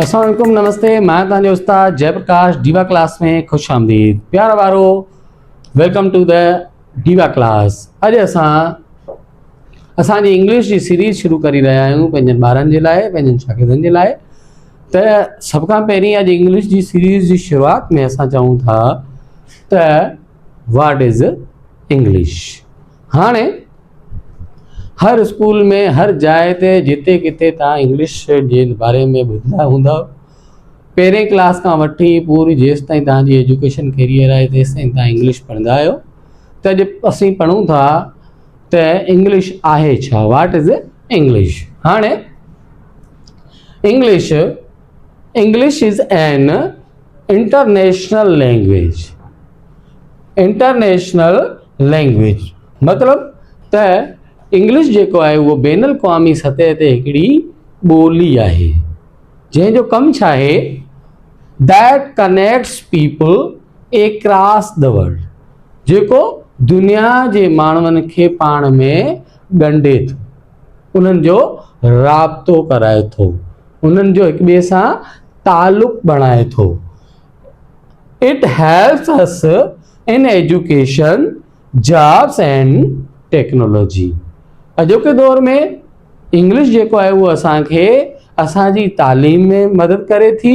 اسلام عليڪم نمستي مان تان جو استاد جي پرڪاش ڊيوا ڪلاس ۾ خوش آمديد پيار وارو welcome to the diva class اڄ اسان اسان جي انگلش جي سيريز شروع ڪري رهيا آهيون پنهنجن ٻارن جي لاء پنهنجن شاگردن جي لاء ته سڀ کان پهرين اڄ انگلش جي سيريز جي شروعات ۾ اسان چئون ٿا ته واٽ از انگلش هاڻي هر اسڪول ۾ هر جاء تي جتي ڪٿي تان انگلش جي باري ۾ ٻڌندا هوندا پهرين ڪلاس کان وٺي پوري جيس تائين تان جي ايجوڪيشن ڪيريئر آهي تيس تائين تان انگلش پڙهندا آهيو ته اڄ اسين پڙهون ٿا ته انگلش آهي ڇا واٽ از انگلش هاڻي English English is an international language, International Language، مطلب ته انگلش جيڪو آهي اهو بين الاقوامي سطح تي هڪڙي ٻولي آهي جنهن جو ڪم ڇا آهي That Connects People Across The World جيڪو دنيا جي ماڻهن کي پاڻ ۾ ڳنڍي ٿو. انهن جو رابطو ڪرائي ٿو، انهن جو هڪ ٻئي سان تعلق بڻائي ٿو. It helps us in education, jobs and technology. اڄوڪي دور ۾ انگلش جيڪو آهي اهو اسان کي اسان جي تعليم ۾ مدد ڪري ٿي.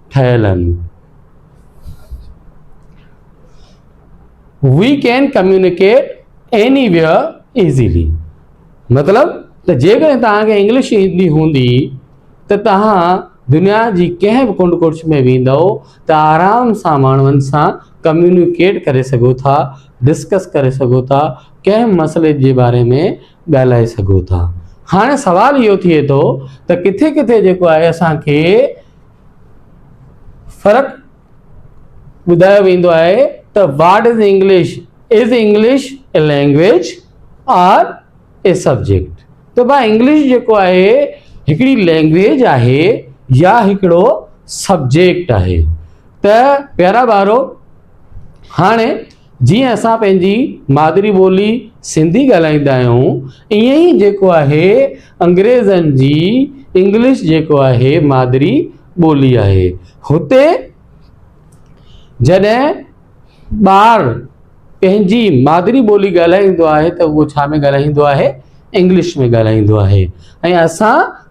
ٺهيل آهن. We can communicate anywhere easily مطلب ته جيڪڏهن توهانکي انگلش ايندي هوندي ته توهان دنيا جي ڪنهن به ڪنڊ ڪڙڇ ۾ ويندو ته آرام سان ماڻهن سان ڪميونيڪيٽ ڪري سگهو ٿا ڊسڪس ڪري سگهو ٿا ڪنهن مسئلي جي باري ۾ ڳالهائي سگهو ٿا هاڻي سوال اهو ٿئي ٿو ته ڪٿي ڪٿي جيڪو آهي اسانکي فرق ٻڌايو ويندو آهي ته what is English is English a language or a subject ته بھا انگلش جيڪو آهي هڪڙي لينگويج آهي يا هڪڙو سبجيڪٽ آهي ته پيارا ٻارو هاڻي جيئن اسان پنهنجي مادري ٻولي سنڌي ڳالهائيندا آهيون ايئن ئي جيڪو آهي انگريزن جي انگلش جيڪو آهي مادري ٻولي آهي هتي جڏهن ٻار پنهنجي مادري ٻولي ڳالهائيندو آهي ته اهو ڇا ۾ ڳالهائيندو آهي انگلش ۾ ڳالهائيندو آهي ۽ اسان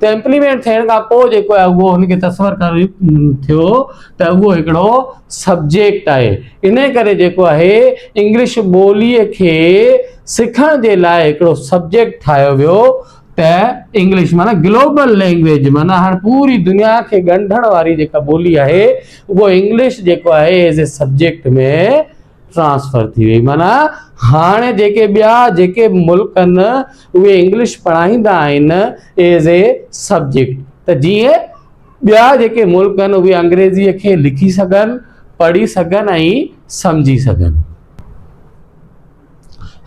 ته امپليمينٽ ٿيڻ کان پوء جيڪو آهي اهو ان کي تصور ڪري ٿيو ته اهو هڪڙو سبجيڪٽ آهي انهي ڪري جيڪو آهي انگلش ٻوليء کي سکڻ جي لاء هڪڙو سبجيڪٽ ٺاهيو ويو ته انگلش معنيٰ گلوبل لينگويج معنيٰ هاڻ پوري دنيا کي ڳنڍڻ واري جيڪا ٻولي آهي اهو انگلش جيڪو آهي ايز اي سبجيڪٽ ۾ ٽرانسفر ٿي وئي معنيٰ هاڻي جيڪي ٻيا جيڪي ملڪ آهن اهي انگلش پڙهائيندا آهن ايز اي سبجيڪٽ ته جيئن ٻيا جيڪي ملڪ آهن اهي انگريزي کي لکي سگهن پڙهي سگهن ۽ سمجهي سگهن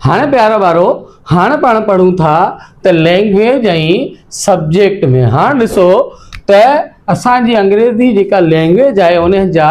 هاڻي پيارا ٻارو هاڻي پاڻ پڙهون ٿا ته لينگويج ۽ سبجيڪٽ ۾ هاڻ ڏسو ته اسانجي انگريزي جيڪا لينگويج آهي ان جا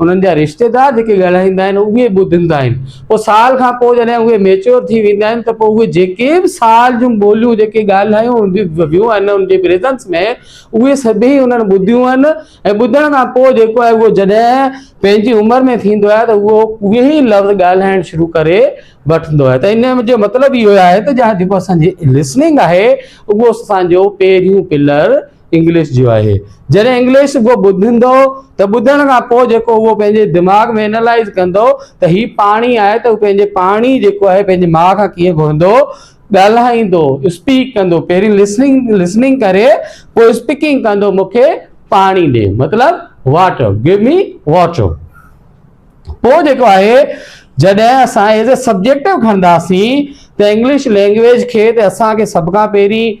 انهن جا رشتيدار جيڪي ڳالهائيندا آهن اهي ٻڌندا آهن پوء سال کان پوء جڏهن اهي ميچيور ٿي ويندا آهن ته پوء اهي جيڪي به سال جون ٻوليون جيڪي ڳالهايون ويون آهن انهن جي پريزنس ۾ اهي سڀيئي انهن ٻڌيون آهن ۽ ٻڌڻ کان پوء جيڪو آهي اهو جڏهن پنهنجي عمر ۾ ٿيندو آهي ته اهو اهي ئي لفظ ڳالهائڻ شروع ڪري وٺندو آهي ته ان جو مطلب اهو آهي ته جيڪو اسان جي لسننگ آهي اهو اسان جو پهريون پلر انگلش جو آهي. جڏهن انگلش ڪو ٻڌندو ته ٻڌڻ کان پوء جيڪو اهو پنهنجي دماغ ۾ انالائيز ڪندو ته هي پاڻي آهي ته هو پنهنجي پاڻي جيڪو آهي پنهنجي ماء کان ڪيئن گهرندو ڳالهائيندو اسپيڪ ڪندو پهرين لسننگ لسننگ ڪري پوء اسپيڪنگ ڪندو مون کي پاڻي ڏي مطلب واٽر گيو مي واٽر پوء جيڪو آهي جڏهن اسان ايز اي سبجيڪٽو کڻنداسين ته انگلش لينگويج کي ته اسان کي سڀ کان پهرين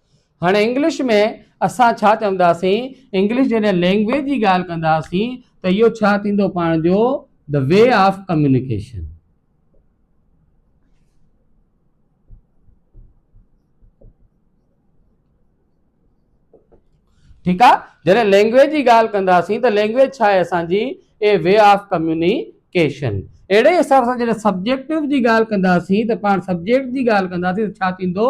هاڻي انگلش ۾ اسان ڇا چونداسين؟ انگلش جڏهن لينگويج جي ڳالهه ڪنداسين ته اهو ڇا ٿيندو پاڻ جو the way of communication. ٺيڪ آ جڏهن لينگويج جي ڳالهه ڪنداسين ته لينگويج ڇا آهي اسانجي اي وي آف ڪميونيڪيشن اهڙي حساب سان جڏهن سبجيڪٽو جي ڳالهه ڪنداسين ته پاڻ سبجيڪٽ جي ڳالهه ڪنداسين ته ڇا ٿيندو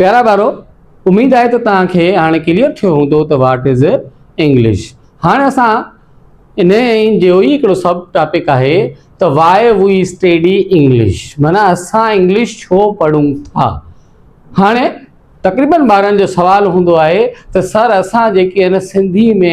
پيارا ٻارو اميد آهي ته توهان کي هاڻي ڪليئر ٿيو هوندو ته واٽ از انگلش هاڻي اسان ان جو ئي هڪڙو سب ٽاپڪ آهي ته وائي وي اسٽيڊي انگلش معنی اسان انگلش ڇو پڙهون ٿا هاڻي تقريبن ٻارن جو سوال هوندو آهي ته سر اسان جيڪي هن سنڌي ۾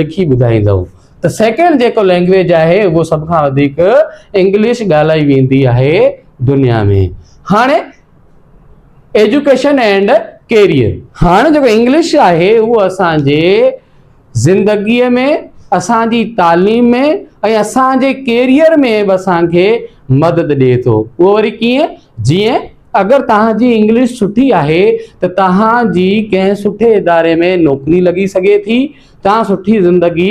لکي ٻڌائيندؤ ته سيڪنڊ جيڪو لينگويج آهي اهو سڀ کان وڌيڪ انگلش ڳالهائي ويندي آهي دنيا ۾ هاڻي ايجوڪيشن اينڊ ڪيريئر هاڻي جيڪو انگلش آهي اهو اسانجي زندگي ۾ اسانجي تعليم ۾ ۽ اسانجي ڪيريئر ۾ به اسانکي مدد ڏي ٿو اهو وري ڪيئن جيئن اگر توهان جي انگلش سٺي آهي ته توهان جي ڪنهن سٺي اداري ۾ نوڪري لڳي سگهي ٿي، توهان سٺي زندگي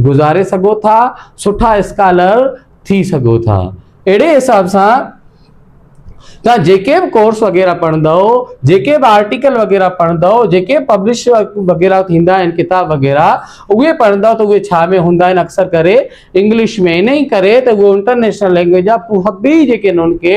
گذاري سگهو ٿا، سٺا اسڪالر ٿي سگهو ٿا. اهڙي حساب سان توهان جيڪي به ڪورس وغيره پڙهندؤ، جيڪي به آرٽيڪل وغيره پڙهندؤ، جيڪي به پبلش وغيره ٿيندا آهن ڪتاب وغيره اهي پڙهندؤ ته اهي ڇا ۾ هوندا آهن اڪثر ڪري انگلش ۾ انهي ڪري ته اهي انٽرنيشنل لينگويج جا پوء به جيڪي آهن انهن کي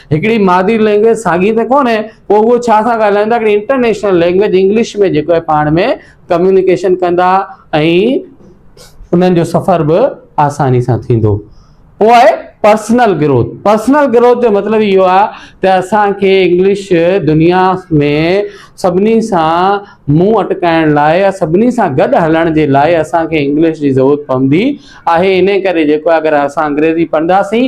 هڪڙي مادري لينگويج ساڳي ته ڪونهي پوء اهو ڇا ٿا ڳالهائين ته هڪڙي انٽرنيشنل لينگويج انگلش ۾ جيڪو آهي پاڻ ۾ ڪميونيڪيشن ڪندا ۽ انهن جو سفر به آساني سان ٿيندو پوء آهي پرسنل گروٿ پرسنل گروٿ جو مطلب اهو آهي ته اسانکي انگلش دنيا ۾ سڀني سان منهن اٽڪائڻ لاء يا سڀني سان گڏ هلڻ جي لاء اسانکي انگلش جي ضرورت پوندي آهي ان ڪري جيڪو اگر اسان انگريزي پڙهنداسين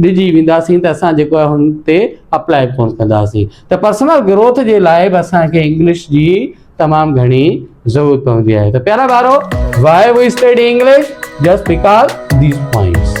ڊڄي وينداسين ته اسان جيڪو آهي هن تي اپلائي به ڪونه ڪنداسين ته پرسنل گروٿ جي لاء به اسان کي انگلش جي تمام گهڻي ضرورت پوندي آهي ته پيارا ٻارو why we study English just because these points